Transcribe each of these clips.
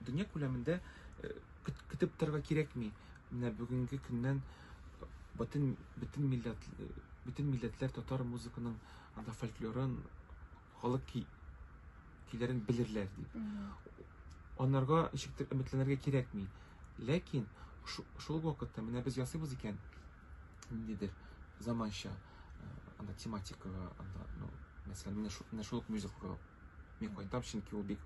Дөнья күләмендә көтеп торырга кирәкми. Менә бүгенге көннән бөтен бөтен милләт бөтен милләтләр татар музыканың анда фольклорын халык ки, көйләрен белерләр дип. Анарга ничектер өметләнергә кирәкми. Ләкин шул вакытта менә без ясыйбыз икән, ниндидер заманча анда тематикага анда ну мәсәлән менә шул менә шул мюзиклга мин кайтам чөнки ул бик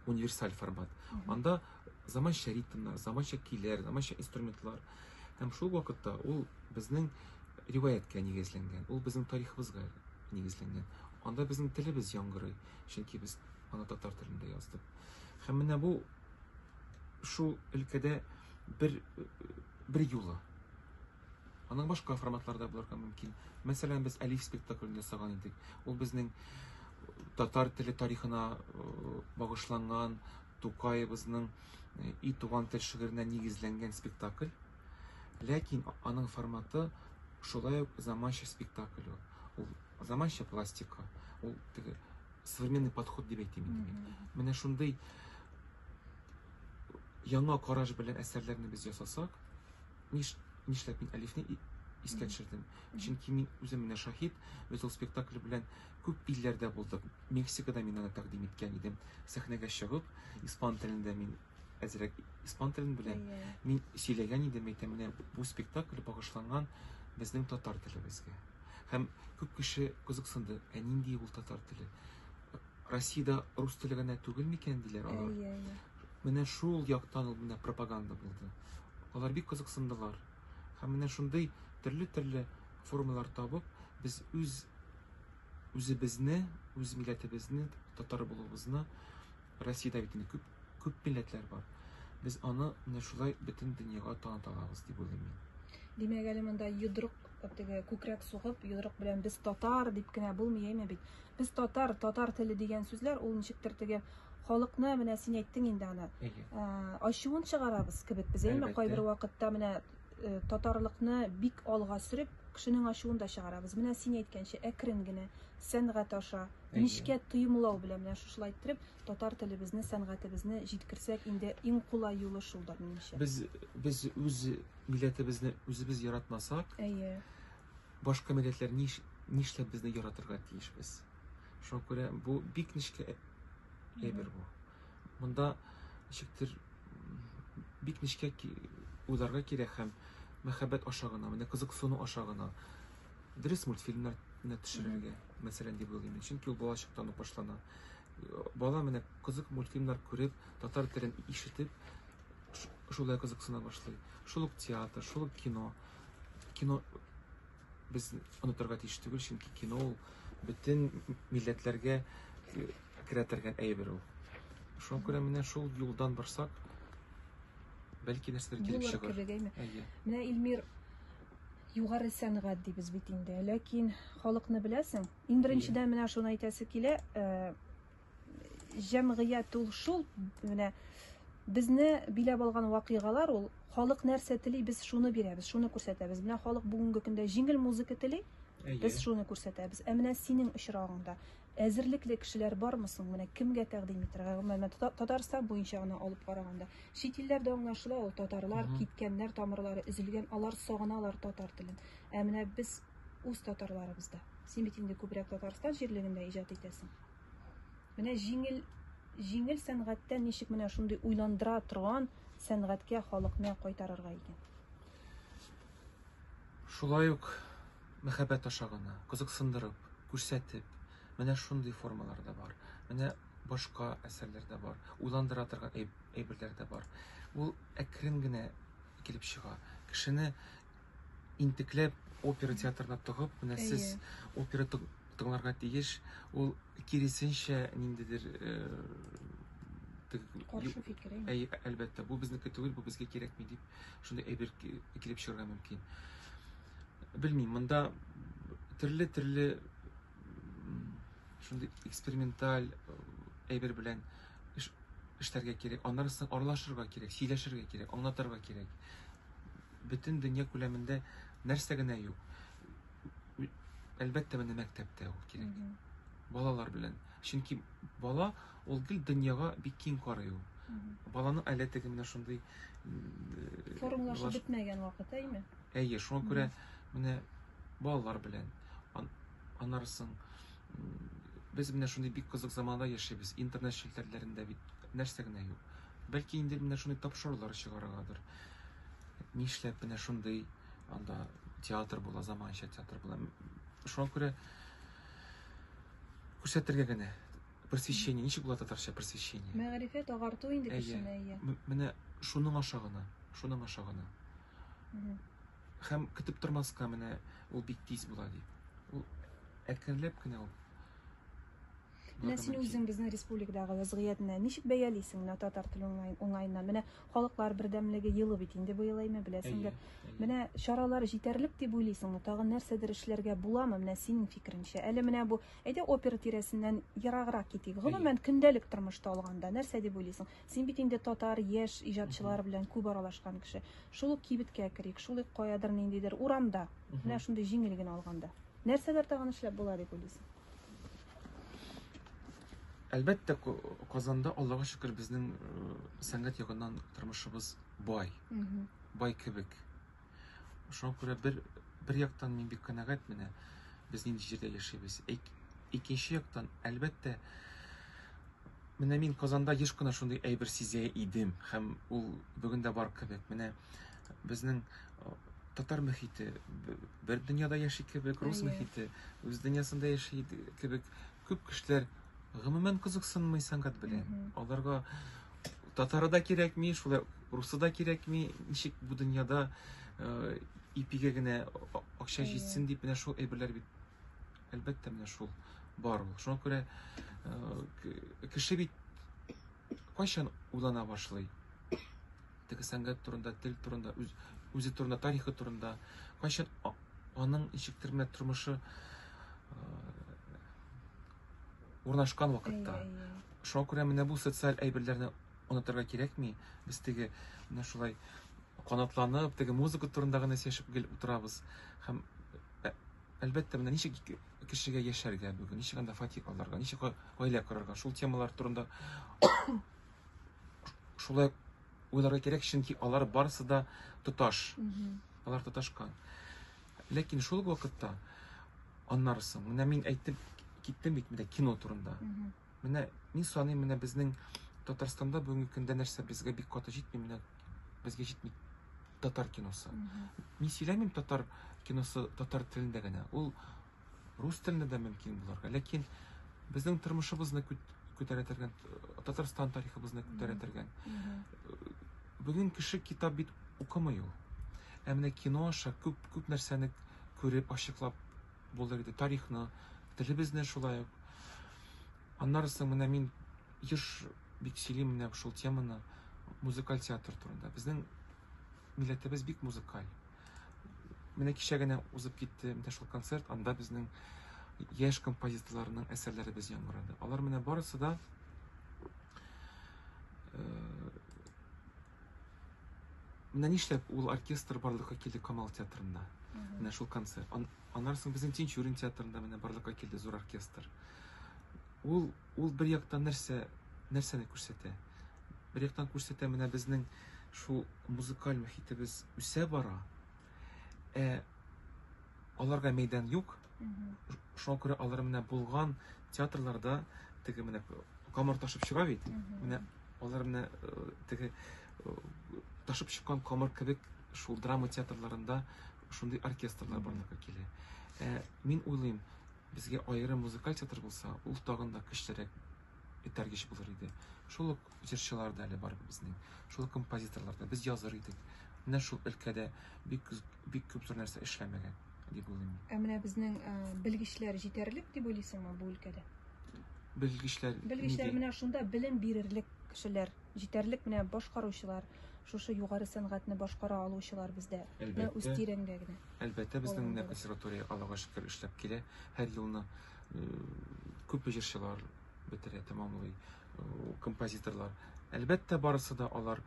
универсаль формат анда заманча ритмнар заманча көйләр заманча инструментлар һәм шул вакытта ул безнең риваяткә нигезләнгән ул безнең тарихыбызга нигезләнгән анда безнең телебез яңгырый чөнки без аны татар телендә яздык һәм менә бу шул өлкәдә бер бер юлы Аның башка форматлары да булырга мөмкин. Мәсәлән, без Әлиф спектаклен ясаган идек. Ул безнең татар теле тарихына багышланган Тукаебызның и туган тел шигыренә нигезләнгән спектакль. Ләкин аның форматы шулай ук заманча спектакль ул. Ул заманча пластика, ул современный подход дип әйтим. Менә шундый яңа караш белән әсәрләрне без ясасак, ниш, нишләп мин Әлифне искә төшердем? Чөнки мин үзем менә шаһит, без ул спектакль белән күп илләрдә булдык. Мексикада мин аны тәкъдим иткән идем. Сәхнәгә чыгып, испан телендә мин әзрәк испан телен беләм. Мин сөйләгән идем, әйтәм, менә бу спектакль багышланган безнең татар телебезгә. Һәм күп кеше кызыксынды, ә нинди ул татар теле? Россиядә рус теле генә түгел микән, диләр алар. Әйе, әйе. Менә шул яктан ул менә пропаганда булды. Алар бик кызыксындылар. Һәм менә шундый төрле-төрле формалар табып, без үз үзебезне, үз милләтебезне, татар булуыбызны Россиядә бит инде күп Күп милләтләр бар. Без аны менә шулай бөтен дөньяга таныта алабыз дип уйлыйм мин. Димәк, әле монда йодрык теге күкрәк сугып, йодрык белән без татар дип кенә булмый әйме бит. Без татар, татар теле дигән сүзләр ул ничектер теге халыкны менә син әйттең инде аны. Ә, ачуын чыгарабыз кебек без әйме кайбер вакытта менә э, татарлыкны бик алга сөреп, кешенең ачуын да чыгарабыз. Менә син әйткәнчә әкрен генә сәнгать аша Нечкә тоемлау белән менә шушылай иттереп татар телебезне, сәнгатебезне җиткерсәк, инде иң кулай юлы шулдыр, минемчә. Без без үз милләтебезне үзебез яратмасак, әйе. Башка милләтләр ниш нишләп безне яратырга тиешбез? Шуңа күрә бу бик нечкә әйбер бу. Монда ничектер бик нечкә уйларга кирәк һәм мәхәббәт аша гына, менә кызыксыну аша гына дөрес мультфильмнар не төшерергә мәсәлән дип уйлыйм чөнки ул балачактан ук башлана бала менә кызык мультфильмнар күреп татар телен ишетеп шулай кызыксына башлый шул ук театр шул ук кино кино без онытырга тиеш түгел чөнки кино ул бөтен милләтләргә э, керә торган әйбер ул шуңа күрә менә шул юлдан барсак бәлки нәрсәдер килеп чыгар менә илмир Югары сәнгать дибез бит инде. Ләкин халыкны беләсең. Иң беренчедән менә шуны әйтәсе килә, э, җәмгыять ул шул менә безне биләп алган вакыйгалар ул халык нәрсә тели, без шуны бирәбез, шуны күрсәтәбез. Менә халык бүгенге көндә җиңел музыка тели, без шуны күрсәтәбез. Ә менә синең очрагыңда Әзерлекле кешеләр бармы соң? Менә кемгә тәкъдим итәргә? Гомумән, менә Тата- Татарстан буенча гына алып караганда. Чит илләрдә аңлашыла ул, татарлар Мгм. киткәннәр, тамырлары өзелгән, алар сагыналар татар телен. Ә менә без үз татарларыбызда. Син бит инде күбрәк Татарстан җирлегендә иҗат итәсең. Менә җиңел, җиңел сәнгатьтән ничек менә шундый уйландыра торган сәнгатькә халыкны кайтарырга икән? Шулай ук Мәхәббәт аша гына, кызыксындырып, күрсәтеп, менә шундый формалар да бар, менә башка әсәрләр дә бар, уйландыра торган әйберләр дә бар. Ул әкрен генә килеп чыга. Кешене интекләп опера театрына тыгып, менә сез опера тыңларга тиеш, ул киресенчә ниндидер каршы фикер. Әй, әлбәттә, бу безнеке түгел, бу безгә кирәкми дип, шундый әйбер килеп чыгарга мөмкин. Белмим, монда төрле-төрле шундый эксперименталь әйбер белән эшләргә кирәк. Аннары соң аралашырга кирәк, сөйләшергә кирәк, аңлатырга кирәк. Бөтен дөнья күләмендә нәрсә генә юк. Әлбәттә, менә мәктәптә ул кирәк. Балалар белән. Чөнки бала ул гел дөньяга бик киң карый ул. Баланың әле теге менә шундый формалашу бетмәгән вакыты, әйме? Әйе, шуңа күрә менә балалар белән анарсың. Без менә шундый бик кызык заманда яшибез. Интернет челтәрләрендә бит нәрсә генә юк. Бәлки инде менә шундый тапшырулар чыгарыгадыр. Нишләп менә шундый анда театр була, заманча театр була. Шуңа күрә күрсәтергә генә просвещение ничек була татарча просвещение мәгәрифәт агарту инде кешене әйе менә шуның аша гына шуның аша гына Хәм көтеп тормаска менә ул бик тиз була ди. Ул әкренләп кенә ул. Менә син үзең безнең республикадагы вазгыятьне ничек бәялисең менә татар теле уңаеннан? Менә халыклар бердәмлеге елы бит инде быел әйме беләсеңдер. Менә чаралар җитәрлек дип уйлыйсыңмы? Тагын нәрсәдер эшләргә буламы? Менә синең фикереңчә. Әле менә бу әйдә опера тирәсеннән ераграк китик. Гомумән көндәлек тормышта алганда нәрсә дип уйлыйсың? Син бит инде татар яшь иҗатчылары белән күп аралашкан кеше. Шул ук кибеткә керик, шул ук каядыр ниндидер урамда, менә шундый җиңел генә алганда. Нәрсәләр тагын эшләп була дип уйлыйсың? Әлбәттә, Казанда, Аллага шөкер, безнең э, сәнгать ягыннан тормышыбыз бай. Бай кебек. Шуңа күрә бер, бер яктан мин бик канәгать менә, без нинди җирдә яшибез. Икенче яктан, әлбәттә, менә мин Казанда еш кына шундый әйбер сизә идем, һәм ул бүген дә бар кебек. Менә безнең татар мөхите бер дөньяда яши кебек, рус мөхите үз дөньясында яши кебек, Күп кешеләр гомумән кызыксынмый сәнгать белән. Аларга татары да кирәкми, шулай русы да кирәкми. Ничек бу дөньяда э, ипигә генә акча җитсен дип менә шул әйберләр бит. Әлбәттә менә шул бар ул. Шуңа күрә э, кеше бит кайчан уйлана башлый? теге сәнгать турында, тел турында, үз, үзе турында, тарихы турында, кайчан аның ничектер менә тормышы урнашкан вакытта. Шуңа күрә менә бу социаль әйберләрне онытырга кирәкми. Без теге менә шулай канатланып, теге музыка турында гына сөйләшеп гел утырабыз. Һәм әлбәттә менә ничек кешегә яшәргә бүген, ничек анда фатир алырга, ничек гаилә корырга, шул темалар турында шулай уйларга кирәк, чөнки алар барысы да тоташ. Алар тоташкан. Ләкин шул вакытта аннары соң, менә мин әйтеп киттем бит менә кино турында. Менә мин саныйм, менә безнең Татарстанда бүгенге көндә нәрсә безгә бик каты җитми, менә безгә җитми татар киносы. Мин сөйләмим татар киносы татар телендә генә. Ул рус телендә дә мөмкин булырга ләкин безнең тормышыбызны күтәрәтергән татарстан тарихыбызны күтәрәтергән бүген кеше китап бит укымый ул ә менә кино аша күп күп нәрсәне күреп ачыклап булыр иде тарихны телебезне шулай ук аннары соң менә мин еш бик сөйлим менә шул теманы музыкаль театр турында безнең милләтебез бик музыкаль Менә кичә генә узып китте менә шул концерт, анда безнең яшь композиторларның әсәрләре без яңгырады. Алар менә барысы да э, менә нишләп ул оркестр барлыкка килде Камал театрында. Менә шул концерт. Аннан соң безнең Тинчурин театрында менә барлыкка килде зур оркестр. Ул Ул бер яктан нәрсә, нәрсәне күрсәтә? Бер яктан күрсәтә, менә безнең шул музыкаль мөхитебез үсә бара, ә аларга мәйдан юк. Шуңа күрә алар менә булган театрларда теге менә камыр ташып чыга бит. Менә алар менә э, теге э, ташып чыккан камыр кебек шул драма театрларында шундый оркестрлар барлыкка килә. Ә, мин уйлыйм, Безгә аерым музыкаль театр булса, ул тагын да көчлерәк этәргеч булыр иде. Шул ук җырчылар да әле бар безнең, шул композиторлар да. Без языр идек. Менә шул өлкәдә бик бик күп зур нәрсә эшләмәгән дип уйлыйм мин. Ә менә безнең белгечләр җитәрлек дип уйлыйсыңмы бу өлкәдә? Белгечләр Белгечләр менә шунда белем бирерлек кешеләр. Җитәрлек менә башкаручылар, шушы югары сәнгатьне башкара алучылар бездә Әлбәттә. үз тирәңгә генә. Әлбәттә, безнең менә консерватория, Аллага шөкер, эшләп килә. Һәр елны күп җырчылар бетерә, тәмамлый, композиторлар. Әлбәттә, барысы да алар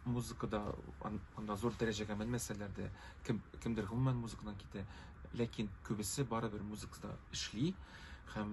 музыкада анда зур дәрәҗәгә менмәсәләр дә, кем, кемдер гомумән музыкадан китә, ләкин күбесе барыбер музыкада эшли һәм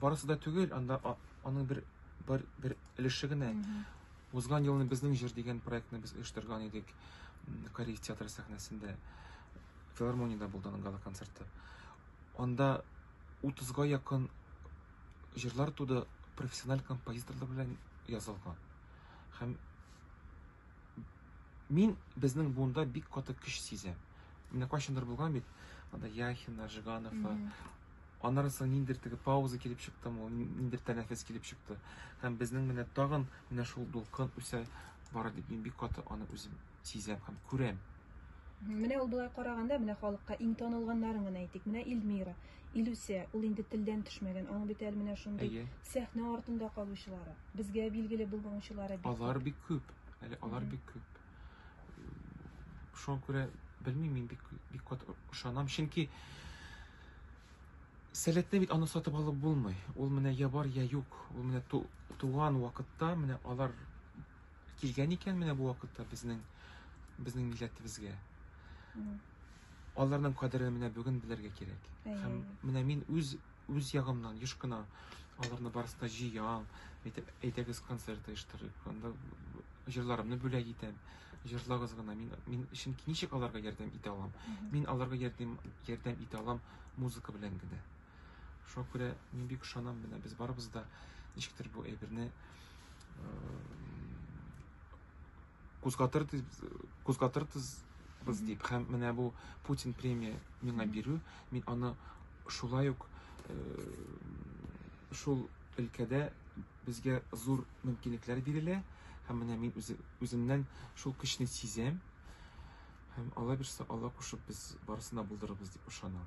Барысы да түгел, анда аның бер бер, бер өлеше генә. Узган елны безнең җыр дигән проектны без оештырган идек Корея театры сәхнәсендә. Филармониядә булды аның гала концерты. Анда 30-га якын җырлар туды профессиональ композиторлар белән язылган. Һәм Мин безнең буында бик каты көч сизәм. Менә кайчандыр булган бит, анда Яхина, Жиганова, аннары соң ниндер теге пауза килеп чыкты, ниндер тәнәфес килеп чыкты. Һәм безнең менә тагын менә шул дулкын үсә бара дип мин бик каты аны үзем сизәм һәм күрәм. Менә ул болай караганда, менә халыкка иң танылганнарын гына әйтик. Менә Илмира, Илүсә, ул инде телдән төшмәгән. Аның бит әле менә шундый сәхнә артында калучылары, безгә билгеле булмаучылары бик. Алар бик күп. Әле алар бик күп. Шуңа күрә белмим, мин бик бик кат ышанам, чөнки сәләтне бит аны сатып алып булмый. Ул менә я бар, я юк. Ул менә ту, туган вакытта менә алар килгән икән менә бу вакытта безнең безнең милләтебезгә. Аларның кадерен менә бүген белергә кирәк. Һәм менә мин үз үз ягымнан еш кына аларны барысын да җыям әйтеп әйдәгез концерт оештырыйк анда җырларымны бүләк итәм җырлагыз гына мин мин чөнки ничек аларга ярдәм итә алам мин аларга ярдәм ярдәм итә алам музыка белән генә шуңа күрә мин бик ышанам менә без барыбыз да ничектер бу әйберне Кузгатырбыз дип һәм менә бу Путин премия миңа бирү, мин аны шулай ук шул өлкәдә безгә зур мөмкинлекләр бирелә һәм менә мин үземнән шул көчне сизәм һәм алла бирсә алла кушып без барысын да булдырырбыз дип ышанам